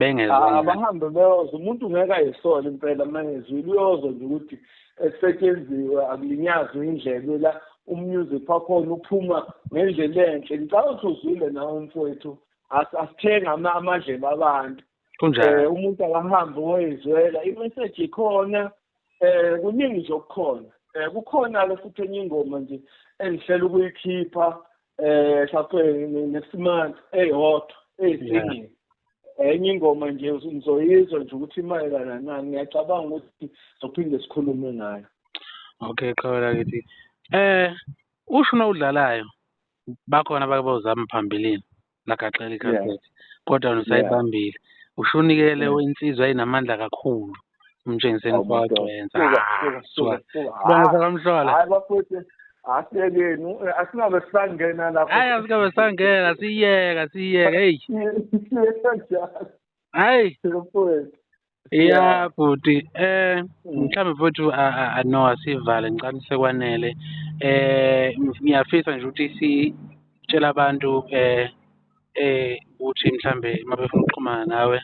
bengezwa ah, abahambe beyoza umuntu ngeke ayisole impela mangezwile uyozo nje ukuthi esetyenziwe akulinyazwe indlebe la umusic wakhona uphuma ngendlela enhle ngicabanga ukuthi uzwile nawe mfowethu asithenga amadlebe abantu kunjani eh, umuntu akahambe woyizwela imessage ikhona eh kuningi nje okukhona eh kukhona ke futhi enye ingoma nje engihlela ukuyikhipha eh shaqwe nesimanje eyodwa eyisingi enye ingoma nje ngizoyizwa nje ukuthi imayelana na ngiyacabanga ukuthi sophinde sikhulume ngayo okay qhawela kithi eh usho nowudlalayo bakhona abake bawuzama phambilini lagaxela ikhasethi kodwa wena usayibambile usho unikele wensizwa ayinamandla kakhulu umtshengiseni Hawu, madoda. kwawenza Suka, suka, suka, suka. sibona sakamhlola Hayi bafowethu asiyekeni eh, asingabe sisangena lapho. hayi asikabe sangena siyeka siyeka heyi Siyeka njalo hayi bafowethu. ya bhuti eh Mm. mhlawumbe futhi a- a- a- no asivale ngicani sekwanele eh ngiyafisa nje ukuthi sitshela abantu eh eh ukuthi mhlambe uma befuna ukuxhumana nawe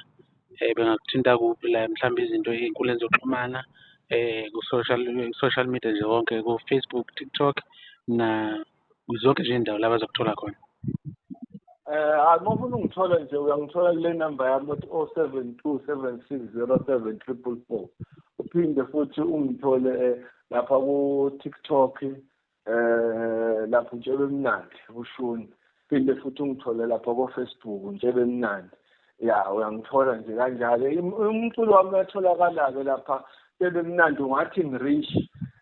um bengakuthinta kuphi la mhlawumbe izinto ey'nkundleni zokuxhumana um ku-social social media nje wonke ko-Facebook, TikTok na zonke nje iy'ndawo la bazokuthola khona. Eh hayi uma ufuna ungithola nje uyangithola kule number yami othi o seven two seven six zero seven triple four uphinde futhi ungithole eh, lapha ku-tiktok eh lapho utshebe mnandi ushuni phinde futhi ungithole lapha ko Facebook utshebe mnandi ya uyangithola nje kanjalo umculo wami uyatholakala ke lapha utshebe mnandi ungathi ngirish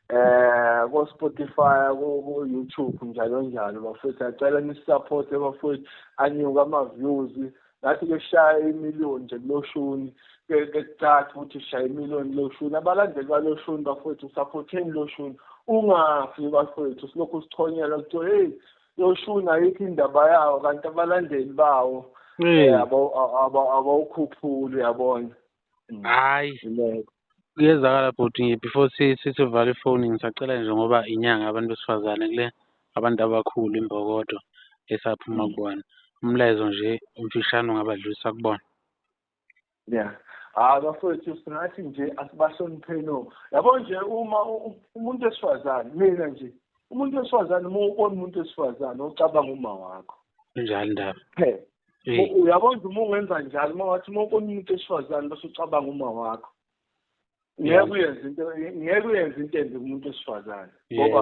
eh ko Spotify ko YouTube njalo njalo bafethu acela nisupporte bafethu anyuka ama views ngathi ke shaya imiliyoni nje kuloshuni ke kucaca ukuthi shaya imiliyoni kuloshuni abalandeli baloshuni bafowethu saphotheni loshuni ungafi bafowethu silokhu sithonyela kuthiwa heyi loshuni ayikho indaba yawo kanti abalandeli bawo eh, abawukhuphuli yabona Mm. Hayi. Iloko. Kuyezakala bhuti nje before si- si- sivale ifoni ngisacela nje ngoba inyanga abantu besifazane kule abantu abakhulu imbokodo esaphuma Mm. kubona. Umlayezo nje umfishane ungabadlulisa kubona. Yeah. Ah bafowethu singathi nje asibahlonipheni o. Yabo nje uma u- u- umuntu wesifazane mina nje umuntu wesifazane uma ubona umuntu wesifazane ocabanga uma wakho. Kunjalo indaba. Phela uyabona ukuthi uma ungenza njalo uma wathi uma ukona umuntu esifazane bese ucabanga uma wakho ngeke uyenze into ngeke uyenze into embi kumuntu wesifazane ngoba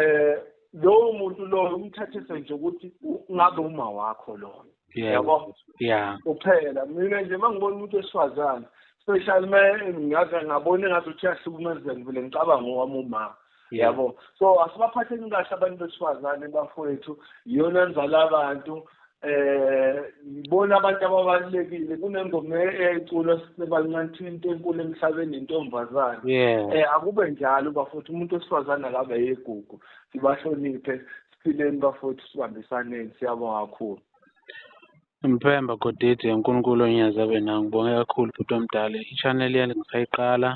eh lowo muntu loyo umthathise nje ukuthi ngabe uma wakho loyo yabo yeah uphela mina nje mangibona umuntu wesifazane special man ngaze ngabona ngathi uthi yahlukumezeka vele ngicabanga owami umama yabo so asibaphatheni kahle abantu besifazane bafowethu yona nzala abantu eh bona abantu ababalekile kunengoma eculwa sisebancane into enkulu emhlabeni intombazane eh akube njalo bafowethu umuntu wesifazane akabe yegugu sibahloniphe siphileni bafowethu sibambisaneni siyabonga kakhulu Mpemba Godidi uNkulunkulu onyazi abe nawe ngibonge kakhulu bhuti omdala i-channel yale ngisayiqala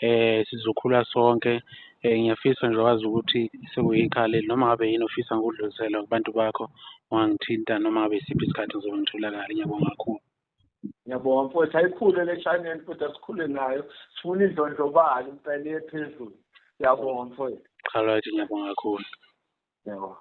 eh sizokhula sonke eh ngiyafisa nje wazi ukuthi sekuyikhaya leli noma ngabe yini ofisa ngikudlulisela kubantu bakho ungangithinta noma ngabe isiphi isikhathi ngizobe ngitholakala ngiyabonga kakhulu ngiyabonga mfowethu ayikhule le channel futhi asikhule nayo sifuna indlondlobali impela iye phezulu ngiyabonga mfowethu all right ngiyabonga kakhulu ngiyabonga